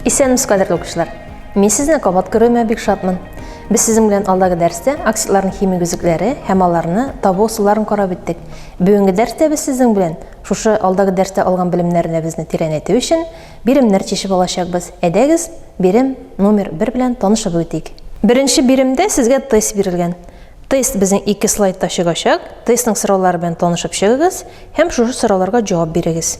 Исәнмесез, кадерле укучылар! Мин сезне кабат күрүемә бик шатмын. Без сезнең белән алдагы дәрестә оксидларның химик үзлекләре һәм аларны табу ысулларын карап үттек. Бүгенге дәрестә без сезнең белән шушы алдагы дәрестә алган белемнәребезне тирәнәйтү өчен Биремнәр чишеп алачакбыз. Әйдәгез, бирем номер бер белән танышып үтик. Беренче биремдә сезгә тест бирелгән. Тест безнең ике слайдта чыгачак. Тестның сораулары белән танышып чыгыгыз һәм шушы сорауларга җавап бирегез.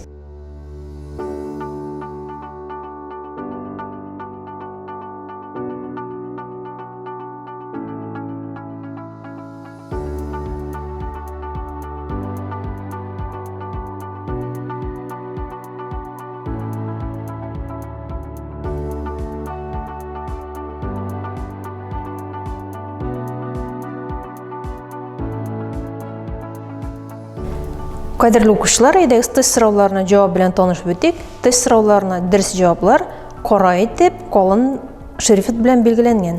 Кадерле укучылар, әйдәгез тест сорауларына җавап белән танышып үтик. Тест сорауларына дөрес җаваплар кара итеп, калын шрифт белән билгеләнгән.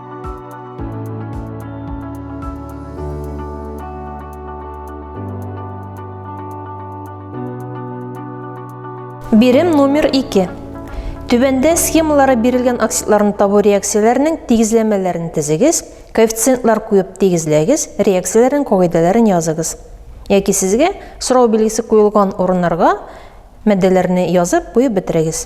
Бирем номер 2. Түбәндә схемалары бирелгән оксидларны табу реакцияләренең тигезләмәләрен тезегез, коэффициентлар куеп тигезләгез, реакцияләрнең кагыйдәләрен языгыз. Яки сезгә сорау билгесе куелган урыннарга матдәләрне язып куеп бетерегез.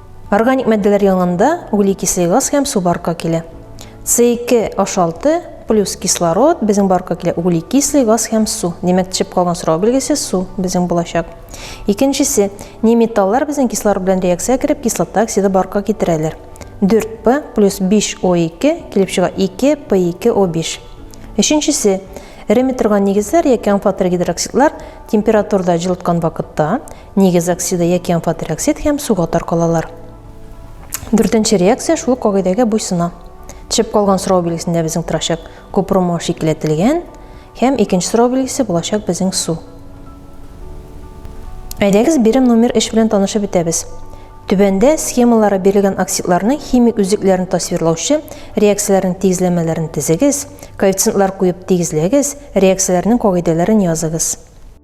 Органик матдәләр янында углекислый газ һәм су барка килә. С2, H6, плюс кислород, безнең барка килә углекислый газ һәм су. Димәк, төшеп калган сорау билгесе су безнең булачак. Икенчесе, не металлар безнең кислород белән реакция кереп кислота оксиды барка китерәләр. 4P плюс 5O2 килеп чыга 2P2O5. Өченчесе, эреме торган нигезләр яки амфотергидроксидлар температурада җылыткан вакытта Нигез оксиды яки амфотероксид һәм суга таркалалар. Дүртенче реакция шул кагыйдәгә буйсына. Төшеп калган сорау билгесендә безнең торачак купромау шикеләтелгән һәм икенче сорау билгесе булачак безнең су. Әйдәгез бирем номер 3 белән танышып бетәбез. Түбәндә схемалары бирелгән оксидларның химик үзлекләрен тасвирлаучы реакцияләрнең тигезләмәләрен тезегез, коэффициентлар куеп тигезләгез, реакцияләрнең кагыйдәләрен языгыз.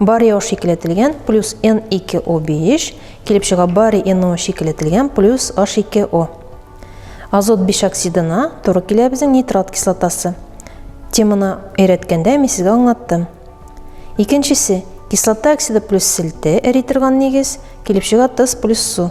Бари о шикелетелгән плюс N2O5 килеп чыга бари NO шикелетелгән плюс H2O. Азот бишоксидына туры килә безнең нитрат кислотасы. Теманы өйрәткәндә мин сезгә аңлаттым. Икенчесе, кислота оксиды плюс селте эри торган нигез, килеп чыга тыз плюс су.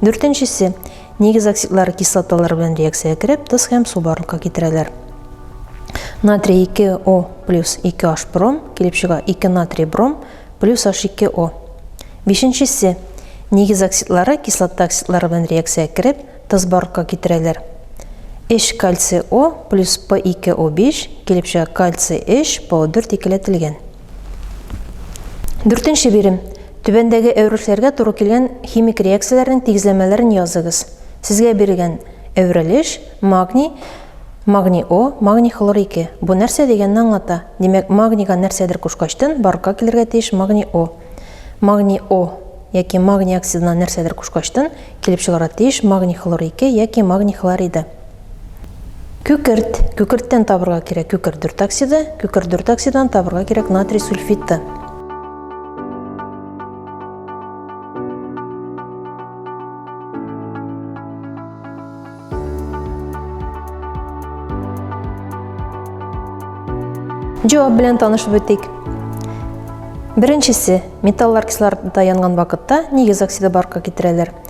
Дүртенчесе, нигез оксидлары кислоталар белән реакциягә кереп, тоз һәм су барлыкка китерәләр. Натрий 2О плюс 2H бром килеп чыга 2 натрий бром плюс H2O. Бишенчесе, нигез оксидлары кислота оксидлары белән реакциягә кереп, тоз барлыкка китерәләр. Эш кальций О плюс P2O5 килеп чыга кальций H, PO4 икеләтелгән. Дүртенче бирем. Түбәндәге әверелешләргә туры килгән химик реакцияләрнең тигезләмәләрен языгыз. Сезгә бирелгән әверелеш, магний, магний О, магний хлор 2. Бу нәрсә дигәнне аңлата. Димәк, магнийга нәрсәдер кушкачтын, барлыкка килергә тиеш магний О. Магний О яки магний оксидына нәрсәдер кушкачтын, килеп чыгарга тиеш магний хлор 2 яки магний хлориды. Күкерт. Күкерттән табырга кирәк күкерт дөртоксиды. Күкерт дөртоксидан табырга кирәк натрий сульфиты. Җавап белән танышып үтик. Беренчесе, металлар кислородта янган вакытта нигез оксиды барка китерәләр.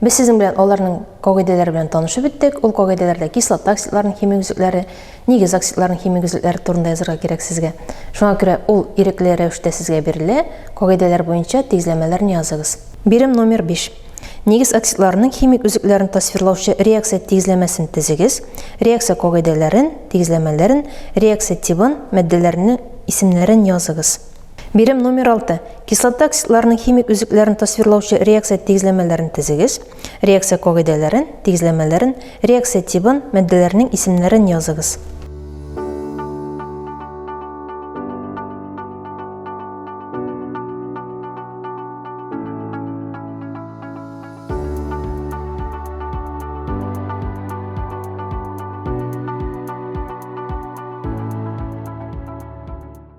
Без сезнең белән аларның кагыйдәләре белән танышып беттек. Ул кагыйдәләрдә кислота оксидларының химик үзлекләре, нигез оксидларының химик үзлекләре турында язырга кирәк сезгә. Шуңа күрә ул ирекле рәвештә сезгә бирелә, кагыйдәләр буенча тигезләмәләрне языгыз. Бирем номер биш. Нигез оксидларының химик үзлекләрен тасвирлаучы реакция тигезләмәсен тезегез, реакция кагыйдәләрен, тигезләмәләрен, реакция тибын, матдәләрнең исемнәрен языгыз. Бирем номер 6. Кислота оксидларының химик үзекләрен тасвирлаучы реакция тигезләмәләрен тезегез. Реакция кагыйдәләрен, тигезләмәләрен, реакция тибын, матдәләрнең исемнәрен языгыз.